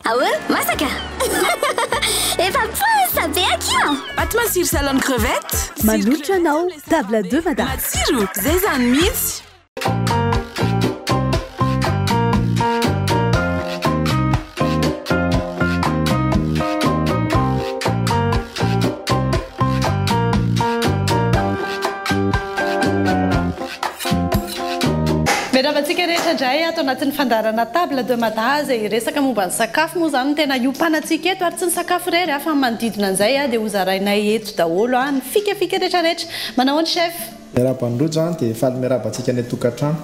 Ah euh? Masaka? Efa posa be akia! Pâte matsiro salon crevette. Manolotra anao table deux madame. Matsiro, zay zany mihitsy. Miarahaba antsika rehetra indray ato anatin'ny fandaharana Table de Mada izay hiresaka momba ny sakafo. Moa izany no tena hiompanantsika eto ary tsy ny sakafo irery fa ny manodidina an'izay dia hozarainay eto daholo, ny fikafika rehetrarehetra. Manao ahoana Chef? Miarahaba an'i Rojo an, dia faly miarahaba antsika any an-tokantrano.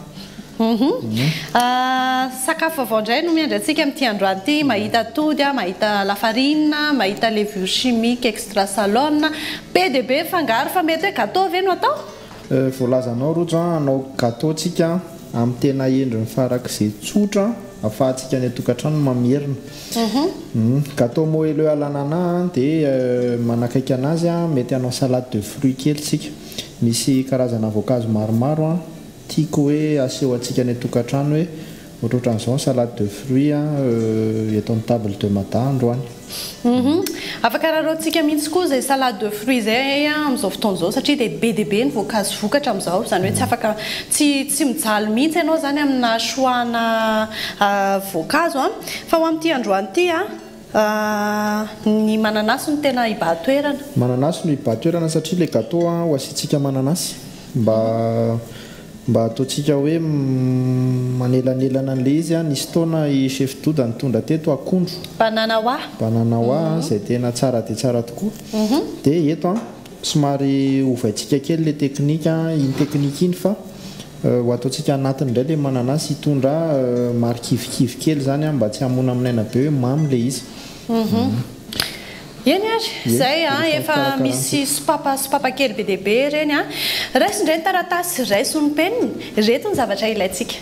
Sakafo vaovao indray no miandry antsika amin'ity androany ity, mahita atody, mahita lafarina, mahita levure chimique extra salone, be dia be ny fangaro fa mety hoe gateau ve no atao? Voalazanao Rojo an, hanao gateau tsika amin'ny tena endriny farak'izay tsotra ahafahantsika any an-tokantrano ny mamerina. Gateau moelleux à l'ananas dia manakaiky an'azy an, mety hanao salade de fruits kely tsika. Misy karazana voankazo maromaro an, tiako hoe aseho antsika any an-tokantrano hoe ohatrohatran'izao ny salade de fruits an, euh, eto amin'ny table de Mada androany. Humm, afaka raraontsika mihitsy koa izay salade de fruits izay an amin'izao fotoana izao satria dia be dia be ny voankazo vokatra amin'izao, izany hoe tsy afaka, tsy, tsy mijaly mihitsy ianao izany amina choix-na ah voankazo an. Fa ho amin'ity androany ity an. Ahh ny mananasy no tena hibahan-toerana. Mananasy no hibahan-toerana satria le gateau an ho asiantsika mananasy mba mba ataontsika hoe manelanelana an'le izy an, nisy fotoana i chef Doda nitondra teto akondro, Banana hoa. banana hoa, izay tena tsara dia tsara tokoa, dia eto an. Somary ovaintsika kely ilay teknika iny teknika iny fa ho ataontsika anatiny indray ilay mananasy hitondra marikivikivy kely izany mba tsy hamonamonaina be hoe mamy ilay izy. Eny ary, izay efa misy sopapa sopapa kely be dia be ireny. Raiso indray ny taratasy, raiso ny penina. Ireto ny zavatra ilaintsika.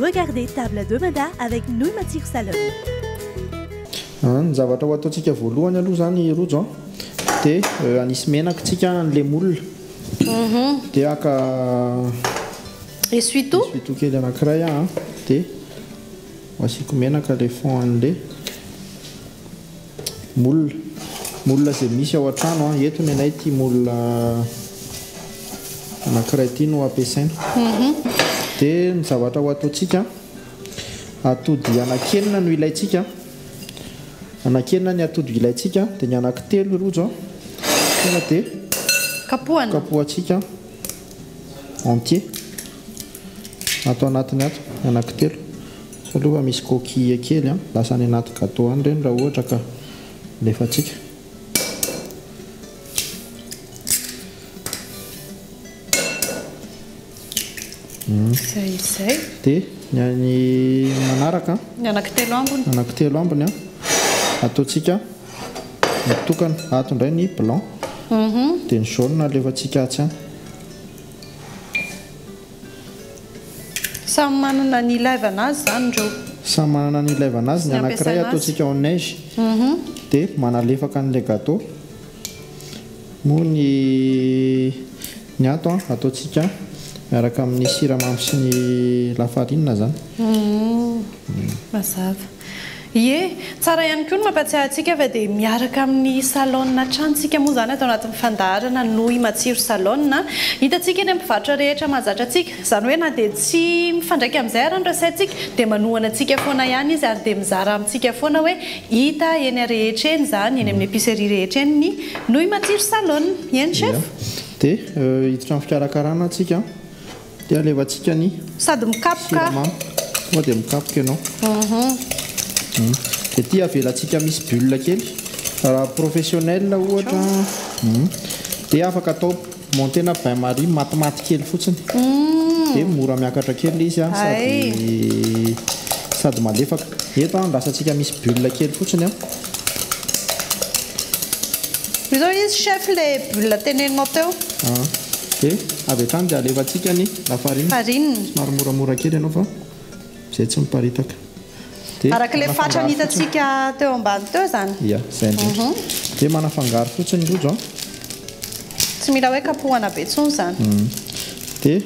Regardez table de mada avec nouilles matsiro salade. Ny zavatra ho ataontsika voalohany aloha izany Rojo a, dia hanisy menaka isika an'ilay moule, dia haka essuie-tout essuie-tout kely anankiray aho dia asiako menaka ilay fond an'ilay. Moule, moule izay misy ao an-trano an, eto ny anay ity moule anankiray ity no ampiasaina. Dia ny zavatra ho ataontsika, atody anankenina no ilaintsika, anankenina ny atody ilaintsika, dia ny anankitelo i Rojo tonga dia Kapohana. kapohantsika entier ato anatiny ato, ny anankitelo. Sao aloha misy coquille kely an! Lasa any anaty gateau any ireny raha ohatra ka alefantsika. Izay izay. Dia ny an'ny manaraka an! Ny anako telo ambiny. Anako telo ambiny an! Ataontsika mitokana. Ato indray ny blanc. Dia ny jaune alefantsika atsy any. Samy manana ny ilaivana azy zany ireo. Samy manana ny ilaivana azy, ny anakiray ataontsika au neige de manalefaka an'ilay gateau moa ny ny ato an ataontsika miaraka amin'ny siramamy sy ny lafarinina zany. Mazava. Ie, tsara ihany koa ny mampatsiahy antsika fa dia miaraka amin'ny salon hatrany isika moa izany ato anatin'ny fandaharana Noi Matsiro Salon. Hitantsika eny amin'ny mpivarotra rehetra mahazatra antsika. Izany hoe na dia tsy mifandraika amin'izay ary ny resaintsika dia manohana antsika foana ihany izy ary dia mizara amintsika foana hoe hita eny arehetra eny izany, eny amin'ny epicerie rehetra eny ny Noi Matsiro Salon. Eny Chef? Dia hiditra amin'ny fikarakarana isika. Dia alevantsika ny Sady mikapoka. siramamy. Tonga dia mikapoka ianao. Dia ity avelantsika misy bulle kely. Raha professionnel ohatra dia afaka atao monter na bain marie matimaty kely fotsiny. Dia mora miakatra kely ilay izy sady sady malefaka. Eto andrasantsika misy bulle kely fotsiny. Izao izy chef ilay bulle teneninao teo. Ah, dia avy hatrany dia alefantsika ny lafarina. Farine. Somary moramora kely ianao fa izay tsy miparitaka. Dia Araka ilay fatrany manafangaro fotsiny. hitantsika teo ambany teo izany. Ia, izay indrindra. Dia manafangaro fotsiny ny rojo an. Tsy mila hoe kapohana be intsony izany. Dia.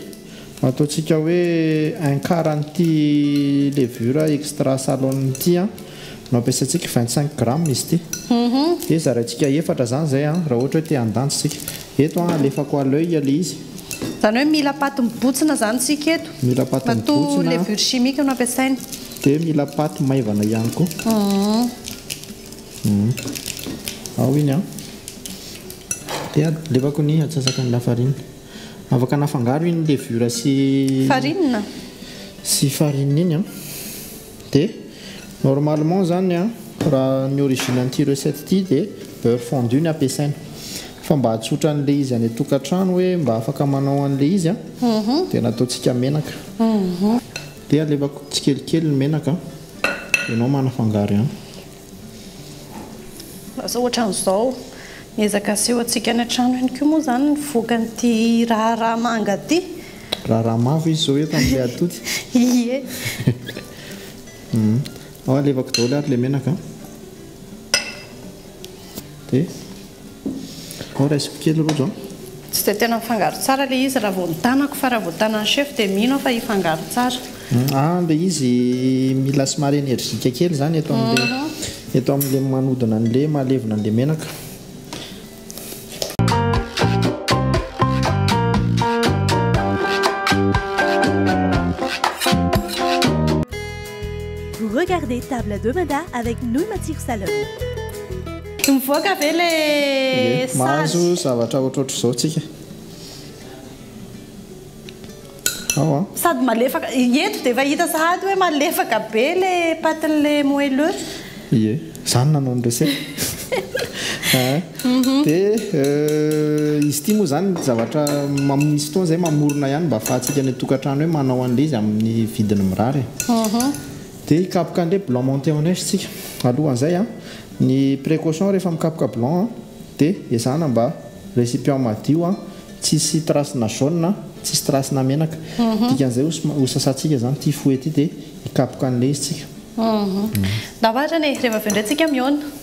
Ataontsika hoe un quart an'ity levure extra salone ity an, no ampiasaintsika vingt cinq grammes izy ity, dia zaraintsika efatra izany izay an, raha ohatra hoe te handanja isika. Eto an, alefako à l'oeil ilay izy. Izany hoe mila paty mibotsina izany isika eto. Mila paty mibotsina. Matoa levure chimique no ampiasaina. Dia mila paty maivana ihany koa. Ao iny an, dia alefako ny atsasak'ilay lafarina. Afaka nafangaro iny levure sy Farine. Sy farine iny an. Dia normalement izany an, raha ny origine an'ity recette ity dia beurre fondu ny ampiasaina. Fa mba hahatsotra an'ilay izy any an-tokantrano hoe mba afaka manao an'ilay izy an, dia nataontsika menaka. Dia alevako tsikelikely ny menaka dia ianao manafangaro ihany. Lasa ohatran'izao. Miezaka aseho antsika any an-trano ihany koa moa izany ny vokan'ity raharaha manga ity. Raharaha mavo izy izao eto amin'ilay atody. Ie. Ao alevako daholo ary ilay menaka. Dia. Ao raisiko kely Rojo an. Tsy dia tena mifangaro tsara ilay izy raha vao ny tanako fa raha vao tanan'i chef dia mino aho fa hifangaro tsara. Ah, ilay izy mila somary energique kely izany eto amin'ilay eto amin'ilay manodina an'ilay mahalevona an'ilay menaka. Vous regardez Table de Mada avec Nouy Matsiro Salon. Tsy mivoaka ve le sazy? Mahazo zavatra ohatrohatr'izao tsika ao an. Sady malefaka, eto dia efa hita sahady hoe malefaka be le patin'le moelleux. Ie, za no nanao ny recette a a. Dia izy ity moa izany zavatra misy fotoana izay mamorona ihany mba ahafahantsika any an-tokantrano hoe manao an'le izy amin'ny vidiny mirary e. Dia hikapoka an'le blanc monté en neige tsika alohan'izay an. Ny precaution rehefa mikapoka blanc an de ezahana mba recipient madio an, tsisy trace na jaune an, tsisy trace na menaka, dikan'izay ho sasantsika zany ity fouet ity de hikapoka an'le izy tsika. Ndao ary zany e, rehefa avy eo ndray tsika mihaona.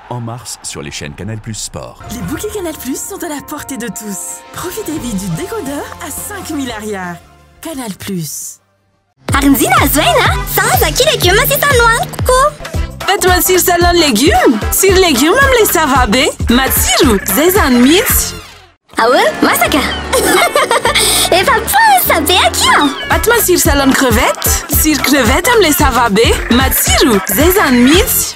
en mars sur les chaines Canal Plus Sport. Les bouquets Canal Plus sont à la portée de tous. Profitez vite du décodeur à 5000 Ariary. Canal Plus. Ary nizina azo aina a! Sahaza ki legioma sisa no haniko ko! Eto matsiro salon legume Tsiro legume amin'ilay sava be Matsiro, zay zany mihitsy Ahoana? Masaka? Efa posa be aky an! Ato matsiro salon crevette Tsiro crevette amin'ilay sava be Matsiro, zay zany mihitsy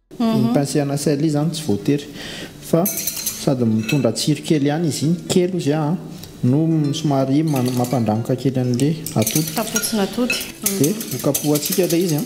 Ny pain sy anah sel izany tsy voatery fa sady mitondra tsiro kely ihany izy iny, kely ozy an, no somary mampandranoka kely an'le atody. Tapotsn'atody. Dia hokapohantsika ilay izy an.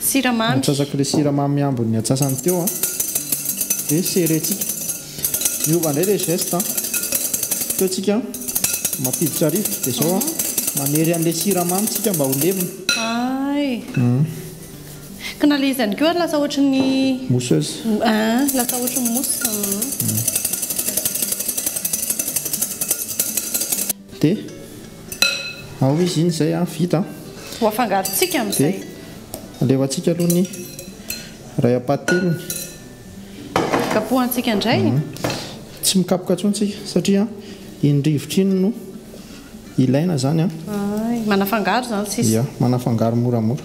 Siramamy. Atsasako ilay siramamy ambin'ny atsasany teo an. Dia serrer tsika. Miova indray ilay geste an. Teo tsika mampiditra rivotra dia izao an. Manery an'ilay siramamy tsika mba ho levona. Hay. Ka na ilay izy ihany koa ary lasa ohatry ny. Mousseuse. An, lasa ohatry ny mousse. Dia ao izy iny izay an, vita an. Ho afangarontsika amin'izay. Dia alefantsika aloha ny iray am-pahatelony. Kapohantsika indray. Tsy mikapoka intsony tsika satria iny rivotra iny no ilaina izany an. Hay, manafangaro izany sisa. Ia, manafangaro moramora.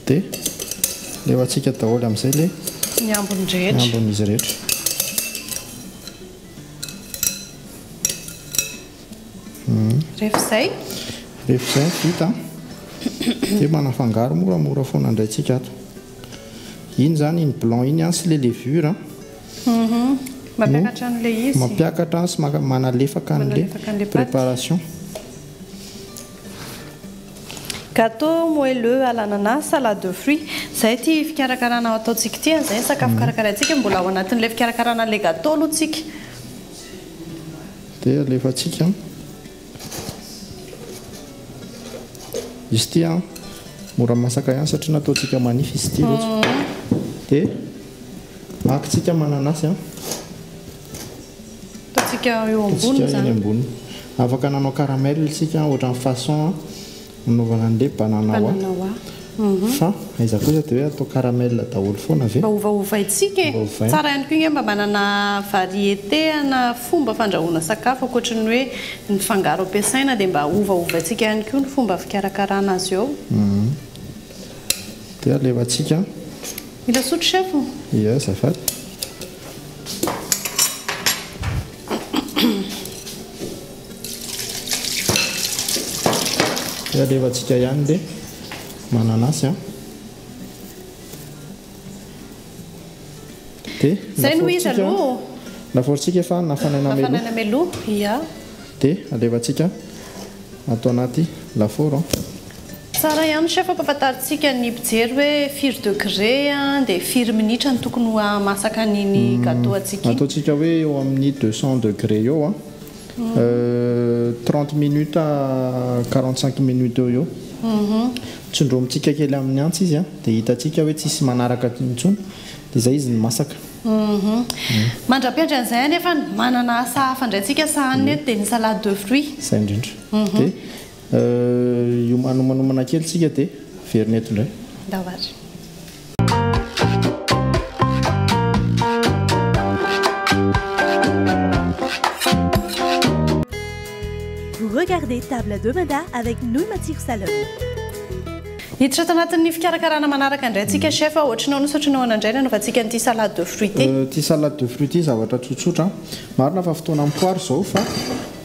Dia levatsika daholo amin'izay ilay ny ambiny rehetra. Ny ambin'izy rehetra. Rehefa izay? Rehefa izay vita dia manafangaro moramora foana indray tsika ato. Iny izany iny blanc iny sy ilay levure. Mhm. Mampiakatra an'ilay izy. Mampiakatra sy manalefaka an'ilay préparation. Gateau moelleux à l'ananas, salade de fruits, izay ity fikarakarana ataontsika ity an, izay ny sakafo karakaraintsika, mbola ao anatin'ilay fikarakarana an'ilay gateau aloha tsika. Dia alefatsika an, izy ity an, mora masaka ihany satria nataontsika manify izy ity rehetra, dia ahakintsika mananasy an. Ataontsika eo ambony zany. Afaka nanao caramel isika ohatran'ny façon nanaovana an'ilay banana wa. Fa aiza kosa dia hoe atao caramel daholo foana ve? Mba ovaovaintsika e. Tsara ihany koa ange mba manana variété ana fomba fandrahoana sakafo ankoatry ny hoe ny fangaro ampiasaina dia mba ovaovaintsika ihany koa ny fomba fikarakarana azy ao. Dia alefantsika. Mila sotro chef o? Ia azafady. Dia alefantsika ihany le mananasy an. Dia Zay no izy aloha ô. Lafaorintsika efa nafanaina mialoha. Nafanaina mialoha, ia. Dia alefantsika ato anaty lafaoro an. Tsara ihany chef ampafantarintsika ny mpijery hoe firy degré dia firy minitra no tokony ho hahamasaka an'iny gateau antsika iny. Ataontsika hoe eo amin'ny deux cents degré eo an, trente minutes à quarante cinq minutes eo ho eo. Tsindromintsika kely amin'ny antsy izy an, dia hitantsika hoe tsisy manaraka intsony, dia izay izy no masaka. Mandra-piandry an'izay anefany manana asa hafa indray tsika sahanina eto dia ny salade de fruits. Izay indrindra. Dia. Eh, hiomanomanomana kely tsika dia hiverina eto indray. Ndao ary. Vous regardez Table de Mada avec Nouy Matsiro Salom. Hiditra ato anatin'ny fikarakarana manaraka indray antsika chef. Ohatrin'ny ahoana sy ohatrin'ny ahoana indray ny hanaovantsika an'ity salade de fruits ity? Ity salade de fruits ity zavatra tsotsotra an. Marina fa fotoana am-poary izao fa.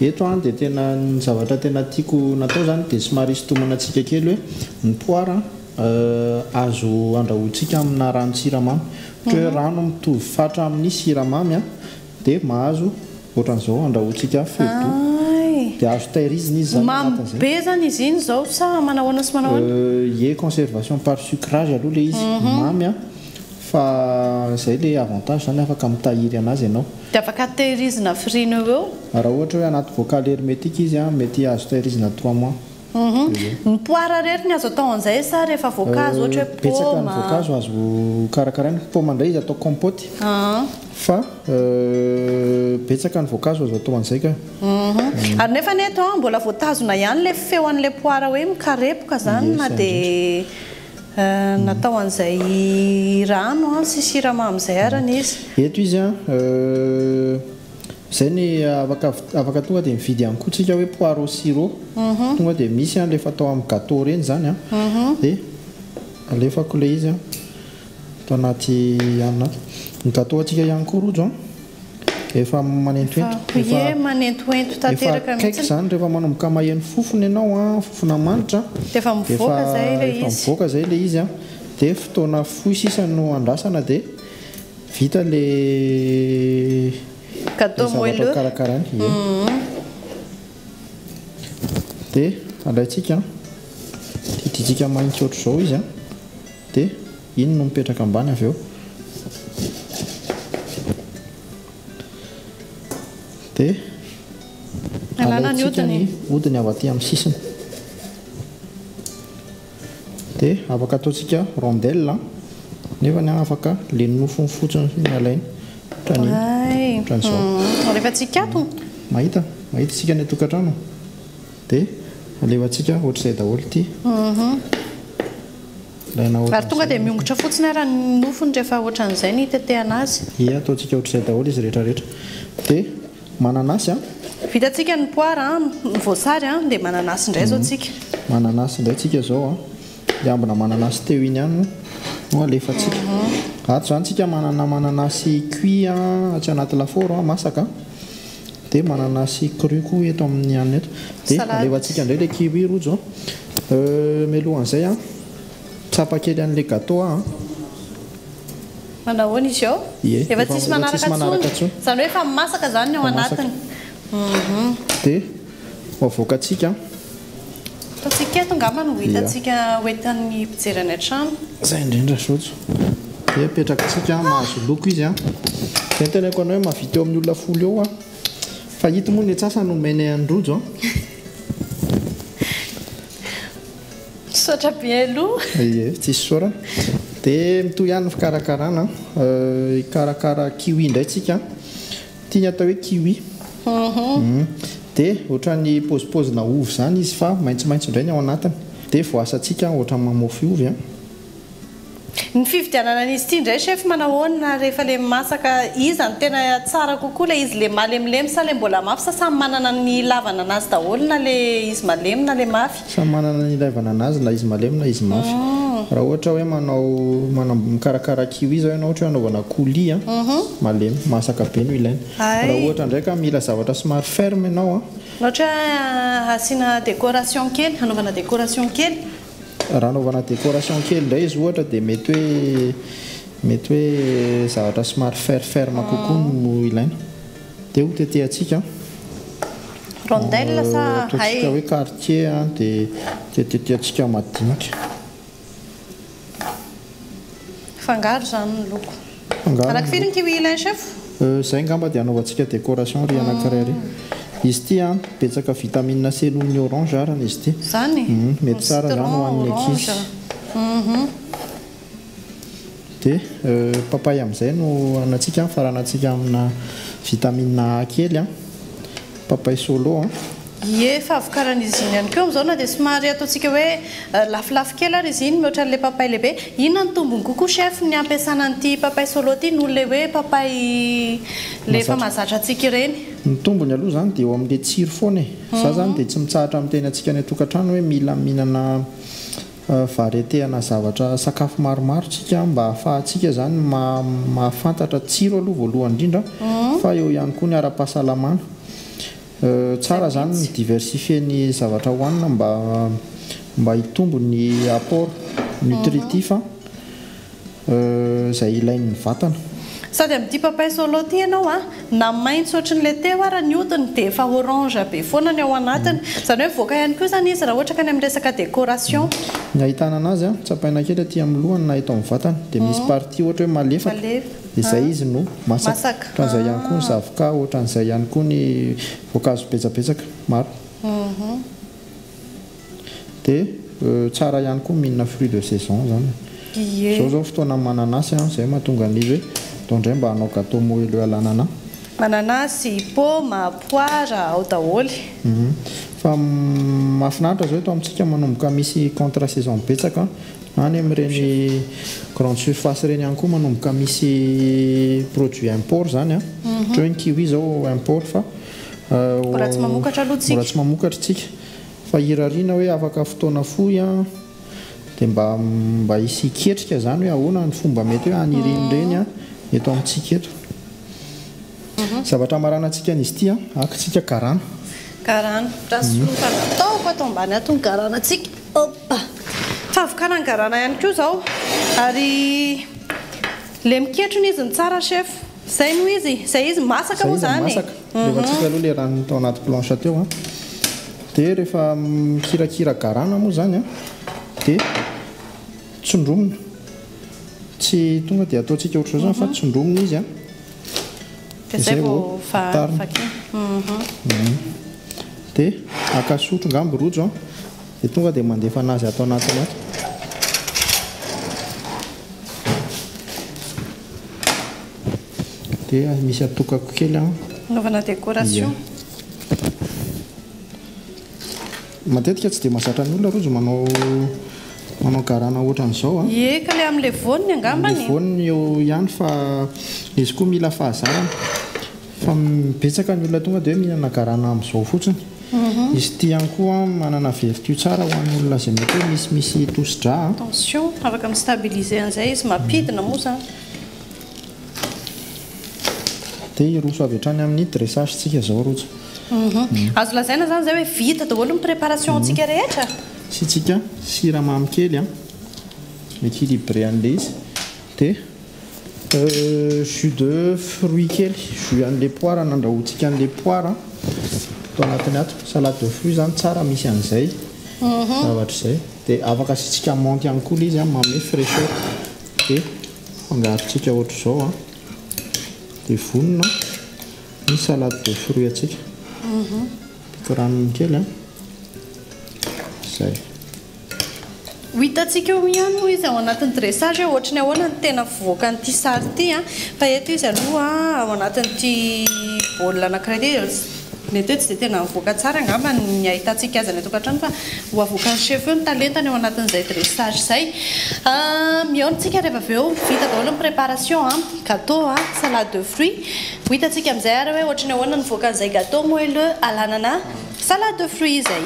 Eto an dia tena ny zavatra tena tiako natao zany dia somary hisintomana antsika kely hoe ny poara an azo andrahoantsika amina ranon-tsiramamy ohatra hoe rano mitovy fatra amin'ny siramamy an dia mahazo ohatran'izao andrahoantsika feudo dia azo tairizina izy zany anatin'izay. Mamy be zany izy iny zao sa manahoana sy manahoana? Ie conservation par sucrage aloha le izy mamy an fa zay le avantage zany afaka mitahiry anazy ianao. Dia afaka tehirizina frine eo eo. Raha ohatra hoe anaty bocal hermétique izy an, mety azo tehirizina trois mois. Uhum. Ny poara irery ny azo atao an'izay sa rehefa voankazo ohatra hoe paoma? Betsaka ny voankazo azo karakaraina. Paoma indray izy atao compote. Uhum. Fa betsaka ny voankazo azo atao an'izay ka. Uhum. Ary nefa anie eto an, mbola voatazona ihany ilay feon'ilay poara hoe mikarepoka izany na dia. Natao an'izay rano an sy siramamy izay arany izy. Eto izy an, izay ny afaka afaka tonga dia mividy ihany koa tsika hoe poire au sirop, tonga dia misy an le efa atao amin'ny gateau ireny izany an, dia alefako ilay izy an ato anaty anona ato. Ny gateau antsika ihany koa rojo an. Efa manentoento. Efa Ie manentoento tanteraka mihitsy. Efa akaiky izany rehefa manomboka maheno fofona ianao an, fofona manitra. Dia efa mivoaka izay ilay izy. Efa mivoaka izay ilay izy an. Dia fotoana fohy sisa no andrasana dia vita ilay Gateau moelleux. Ilay zavatra ho karakaraina. Ie. Dia alaintsika an. Didiantsika mahitsy ohatr'izao izy an. Dia. Iny no mipetraka ambany avy eo dia alaintsika ny hodiny avy aty amin'ny sisiny dia afaka ataontsika rondelle nefa ny afaka le nofony fotsiny ny alainy ohatran'izao rehefa tsy hikatona mahita mahita isika ny tokantrano dia alefantsika ohatr'izay daholo ity mhm. Ary tonga dia miongotra fotsiny ara ny nofony rehefa ohatran'izay ny itetehana azy. Ie, ataontsika ohatr'izay daholo izy rehetra rehetra. Dia mananasy an! Vitantsika ny poara an, ny voasary an, dia mananasy indray izao tsika. Mananasy indray tsika izao an! Ilay ambina mananasy teo iny ihany moa no alefantsika. Ato izany tsika manana mananasy cuit an, atsy anaty lafaoro an, masaka an! Dia manana sy cru koa eto amin'ny hanina eto. Dia alefantsika indray ilay kiwi Rojo a. Euh, mialohan'izay an, tsapa kely an'ilay gateau aho an. Manao ahoana izy eo? Ie, efa tsisy manaraka intsony. Izany hoe efa masaka izany ny ao anatiny. Dia ho avoakantsika Fa tsy eto angamba no ho hitantsika ho entan'ny mpijery any an-trano. Izay indrindra Zojo. Dia apetrakantsika mahazo loko izy an. Dia noteneniko anao hoe mahavita eo amin'ny olona folo eo aho. Fa ito moa ny antsasany omenay an'i Rojo an. Misaotra be aloha. Ie, tsy isaorana. Dia mitohy ihany ny fikarakarana an. Hikarakara kiwi indray tsika an. Tiany atao hoe kiwi. Humm. Dia ohatran'ny pozipozina ovy izany izy fa maitsomaitso indray ny ao anatiny. Dia voasantsika ohatran'ny mamofy ovy an. Ny fividianana an'izy ity indray chef manahoana rehefa le masaka, iza no tena tsara kokoa, le izy le malemilemy sa le mbola mafy sa samy manana ny ilavana anazy daholo na le izy malemy na le mafy? Samy manana ny ilaivana anazy na izy malemy na izy mafy. Raha ohatra hoe manao manam mikarakara kiwi zao ianao ohatra hoe anaovana coulis a, malemy, masaka be no ilaina. Raha ohatra ndray ka mila zavatra somary ferme ianao a. Ohatra hoe asiana décoration kely, hanaovana décoration kely. Raha anaovana décoration kely ndray izy ohatra dia mety hoe mety hoe zavatra somary fer ferme kokoa no ilaina. Dia ho tetehantsika Rondelle sa hay? Ataontsika hoe quartier an, dia dia tetehantsika madinika. Fangaro izany ny loko. Fangaro Araka ny firy ny loko. kiwi ilain chef? Euh, izay angamba dia anaovantsika décoration ry anankiray ry. Izy ity an, betsaka vitamine C noho ny orange arany izy ity. Izany? Uhm, mety tsara izany ho an'ny ankizy. Citron, orange. Uhum. Dia papay amin'izay no anantsika an, faranantsika amina vitamine A kely an, papay solo an. Ie, fahavokaran'izy iny ihany koa amin'izao na dia somary ataontsika hoe lafolafo kely ary izy iny mihoatra an'ilay papay lehibe. Inona no tombony kokoa chef ny hampiasana an'ity papay solo ity noho ilay hoe papay ilay efa mahazatra antsika ireny? Ny tombony aloha izany dia eo amin'ilay tsiro foana e, za izany dia tsy mitsahatra miteny antsika any an-tokantrano hoe mila mihinana Varietena zavatra sakafo maromaro tsika mba ahafahantsika zany mahafantatra tsiro aloha voalohany indrindra fa eo ihany koa ny ara-pahasalamana. Tsara zany ny mi-diversifier ny zavatra hoanina mba mba hitombo ny apport nutritif. izay ilain'ny vatana. Sady amin'ity papay solo ity ianao a, na maitso ohatry ny ilay teo ara ny hodiny dia efa orange be foana ny ao anatiny. Izany hoe mivoaka ihany koa izany izy raha ohatra ka any amin'ny resaka décoration. Ny ahitana anazy a, tsapaina kely aty amin'ny lohany na eto amin'ny vatany dia misy partie ohatra hoe malefaka dia izay izy no masaka. Ohatran'izay ihany koa ny zavoka, ohatran'izay ihany koa ny voankazo betsabetsaka maro. Dia tsara ihany koa mihinana fruit de saison zany. Zao zao fotoana mananasy an, zay mahatonga ny hoe zao ndray mba hanao gateau moelleux à l'anana. Mananasy, paoma, poara, ao daholo. Fa mahafinaritra zao eto amintsika manomboka misy contre saison betsaka an, any amin'ireny grande surface ireny ihany koa manomboka misy produit import zany an, ohatra hoe ny kiwi zao import fa mbola tsy mamokatra tsika. Fa hirariana hoe afaka fotoana fohy an, dia mba mba hisy hiketrika izany hoe ahoana ny fomba mety hoe hanirian'ireny an eto amintsika eto. Zavatra hamaranantsika an'izy ity an, akintsika karana. Karana. Raha soloina ataoko ato ambany ato ny garanantsika. Opa! Fahavokaran'ny garana ihany koa izao. Ary le miketrona izy no tsara chef. Zay moa izy, zay izy masaka moa zany e! Zay izy masaka, levatsika aloha le rano tao anaty planche teo an, dia rehefa mikirakira garana moa zany an, dia tsondromina, tsy tonga dia ataontsika ohatr'izao zany fa tsondromina izy an, dia zay vao atarina, dia haka sotro ngamba i Rojo an, dia tonga dia mandefa anazy ato anatiny ato. dia misy atokako kely an anaovana décoration matetika tsy dia mahazatra ny olona rojo manao manao garana ohatran'izao an ie ka le amin'le voniny angambany le voniny eo ihany fa izy koa mila fahazarana Fa betsaka ny olona tonga dia hoe mihinana garana amin'izao fotsiny. Izy ity ihany koa manana vertu tsara ho an'ny olona izay mety hoe misimisy tosi-dra. Tension, afaka mi-stabiliser an'izay izy. Mampidina moa izany. Dia hiroso avy hatrany amin'ny dressage-ntsika izao Rojo. Azo lazaina izany izay hoe vita daholo ny préparation-ntsika rehetra? Asiantsika siramamy kely an, mi-equilibrer an'ilay izy. Dia. Jus de fruits kely, jus an'ilay poara nandrahoantsika an'ilay poara ato anatiny ato. Salade de fruits izany tsara misy an'izay mhm. zavatra izay. Dia afaka asiantsika menthe ihany koa ilay izy manome fraîcheur. Dia fangarontsika ohatr'izao. Dia vonona ny salade de fruits antsika. Piko mhm. ranony kely. Izay. Ho hitantsika eo ihany moa izy ao anatin'ny dressage hoe ohatry ny ahoana ny tena fivoakan'ity sary ity an. Fa eto izy aloha ao anatin'ity bol anankiray ity dia mety hoe tsy dia tena mivoaka tsara angamba ny hahitantsika azy any an-tokantrano fa ho avoakan'ny chef eo ny talentany ao anatin'izay dressage izay. Mihaona isika rehefa avy eo vita daholo ny préparation an, gateau an, salade de fruit. Ho hitantsika amin'izay ary hoe ohatry ny ahoana ny nivoakan'izay gateau moelleux alanana salade de fruit izay.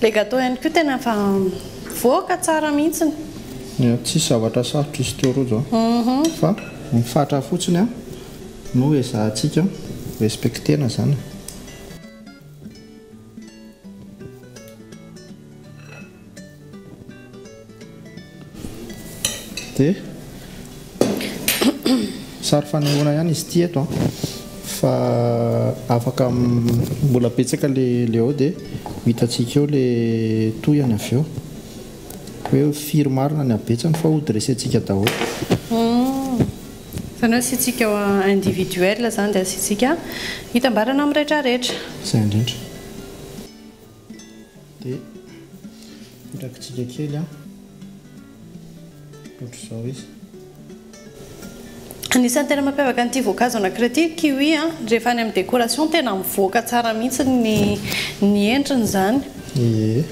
Ilay gateau ihany koa tena efa mivoaka tsara mihitsiny. Eny tsisy zavatra sarotra izy teo rojo fa ny fatra fotsiny no ezahantsika respecter-na izany. Dia sary fanehoana ihany izy ity eto an, fa afaka mbola betsaka ilay ao dia ho hitantsika eo ilay tohiny avy eo, hoe firy marina ny habetsany fa hody resentsika daholo. Izany hoe asiantsika ao individuel izany dia asiantsika hitambarana amin'ny rehetrarehetra. Izay indrindra. dia mirakitsika kely an ohatr'izao izy Anisan'ny tena mampiavaka an'ity voankazo anankiray ity ny kiwi a, rehefa any amin'ny décoration tena mivoaka tsara mihitsy ny ny endriny izany. Ie,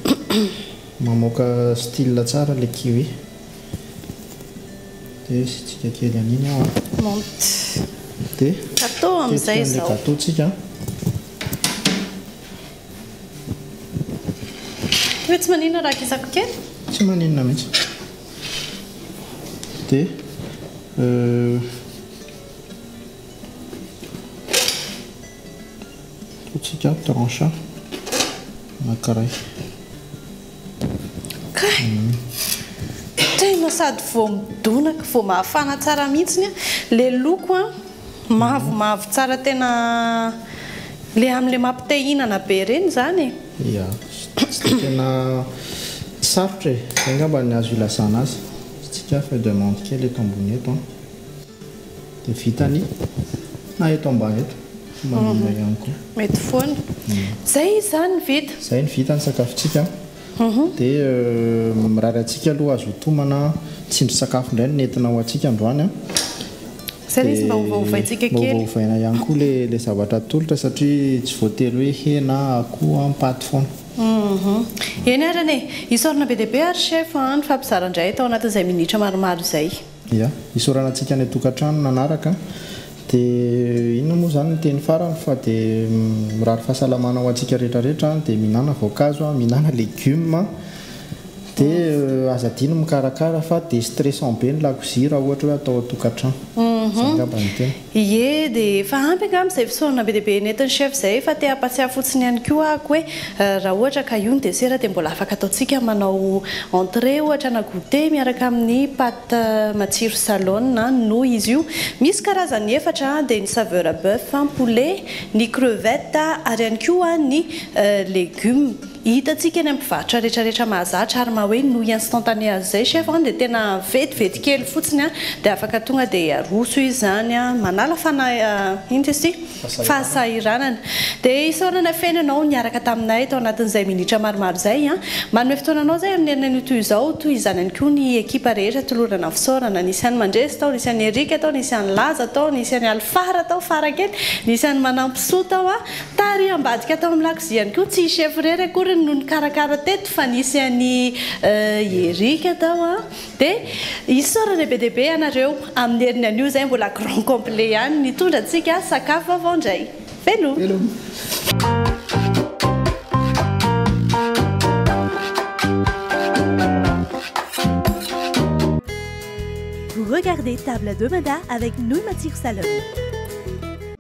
mamoaka style tsara ilay kiwi. Dia asiantsika kely an'iny ao an. Monte. Dia tetika an'ilay gâteau-tsika. Hoe tsy maninona raha kisako kely? Tsy maninona mihitsy. Dia ataontsika tranche anankiray. Kay! Tegna sady vao midonaka, vao mafana tsara mihitsy ilay loko. Mavo mavo tsara tena le amle mapite hinana be reny zany e. Ya, satria tena sarotra e, zay ngamba ny azo ilazana azy, hitsikia feuille de menthe kely eto ambony eto an, dia vita ny, na eto ambany eto, manome ihany koa. Mety foana. Zay izy zany ny vita. Zay ny vita ny sakafontsika an. Dia mirary antsika aloha azo hotomana tsindrin-tsakafo indray no nentina ho antsika androany an! Dia mba ovaovaina ihany koa ilay zavatra atolotra satria tsy voatery hoe hena, akoho an, paty foana. Eny arany e! Isaorana be dia be ary chef an, ny fampizaran-dray tao anatin'izay minitra maromaro izay. Ia. Isaorana antsika any an-tokantrano nanaraka. Dia inona moa izany ny teny farany fa dia mirary fahasalamana ho antsika rehetra rehetra an! Dia mihinana voankazo an! Mihinana legioma an! Dia aza adino ny mikarakara fa dia stressant be ny lakozia raha ohatra hoe atao ao an-tokantrano. Izay angamba no tena. Ie de efa ampy angamba izay fisaorana be dia be nentin'i chef izay fa te hampatsiahy fotsiny ihany koa ako hoe raha ohatra ka io ny dessert dia mbola afaka ataontsika manao entrée ohatra na goûter miaraka amin'ny pâte matsiro salone noho izy io misy karazany efatra dia ny saveur bœuf, poulet, ny crevettes ary ihany koa ny légumes. Hitantsika any amin'ny mpivarotra retraretra mahazatra ary maha hoe nouille instantanée azy izay chef an, dia tena vetivety kely fotsiny an, dia afaka tonga dia aroso izy izany an, manala fanahy inona izy ity? fahasahiranana. Dia isaorana feno ianao niaraka taminay tao anatin'izay minitra maromaro izay an, manome fotoananao izay amin'ny herinan'io toy izao, toy izany ihany koa ny ekipa rehetra tolorana fisaorana, nisy an'i Mandresy tao, nisy an'i Eric tao, nisy an'i Laza tao, nisy an'i Alfara tao fara kely, nisy an'i Manampisoa tao an. Taary ambadika tao amin'ny lakozia ihany koa, tsy i chef irery akoriny no nikarakara teto fa nisy an'i Eric tao an! dia isaorana be dia be ianareo amin'ny heriny anio izay mbola grand complet ihany nitondra antsika sakafo vaovao indray! Veloma!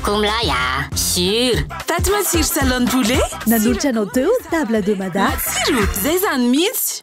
Akomilahy ah Sur Taty matsiro salon poulet Nanolotra anao teo table de mada Matsiro, zay zany mihitsy